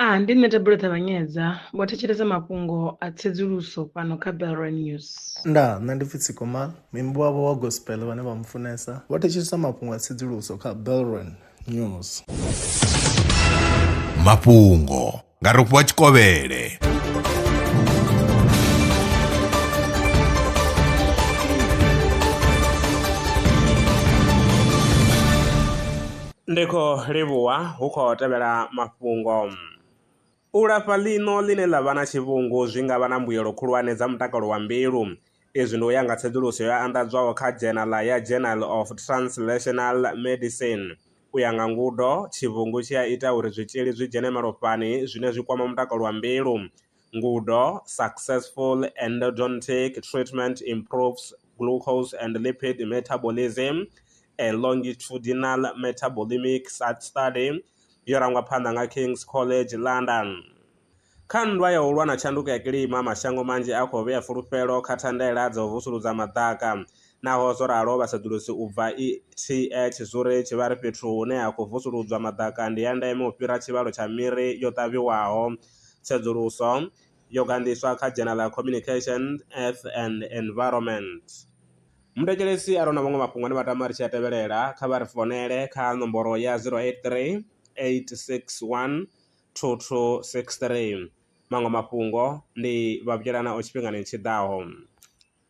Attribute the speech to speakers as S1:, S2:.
S1: A Ndi nṋe Thabelo Ṱavhanyedza, vho thetshelesa mafhungo a tsedzuluso fhano kha Belrwa News. Ndaa, nṋe ndi pfi Tsiko Mal, muimbi wavho wa gospel vhane vha mufunesa, vho thetshelesa mafhungo a tsedzuluso kha Belrwa News. Mafhungo nga Rofhiwa Tshikovhele. Ndi khou livhuwa hu khou tevhela mafhungo. U lafha ḽino ḽine ḽa vha na tshivhungu zwi nga vha na mbuyelo khulwane dza mutakalo wa mbilu. Izwi ndi u ya nga tsedzuluso yo anḓadzwaho kha dzhenala ya Journal of Translational Medicine. U ya nga ngudo, tshivhungu tshi a ita uri zwitzhili zwi dzhene malofhani zwine zwi kwama mutakalo wa mbilu. Ngudo, Successful endodontic treatment improves glucose and lipid metabolism, a longitudinal metabolemic study yo rangwa phanḓa nga King's College London. Kha nndwa ya u lwa na tshanduko ya kilima, mashango manzhi a khou vhea fulufhelo kha thandela dza u vusuludza maḓaka. Naho zwo ralo, vhasedzulusi u bva ETH Zurich vha ri fhethu hune ha khou vusuludzwa maḓaka ndi ya ndeme u fhira tshivhalo tsha miri yo ṱavhiwaho Tsedzuluso yo gandiswa kha dzhena ḽa Communication, Earth and Environment. Muthetshelesi arali hu na maṅwe mafhungo ane vha tama ri tshi a tevhelela, kha vha ri founele kha nomboro ya 0838612263. Maṅwe mafhungo ndi Vhavhudzela Nao tshifhingani tshi ḓaho.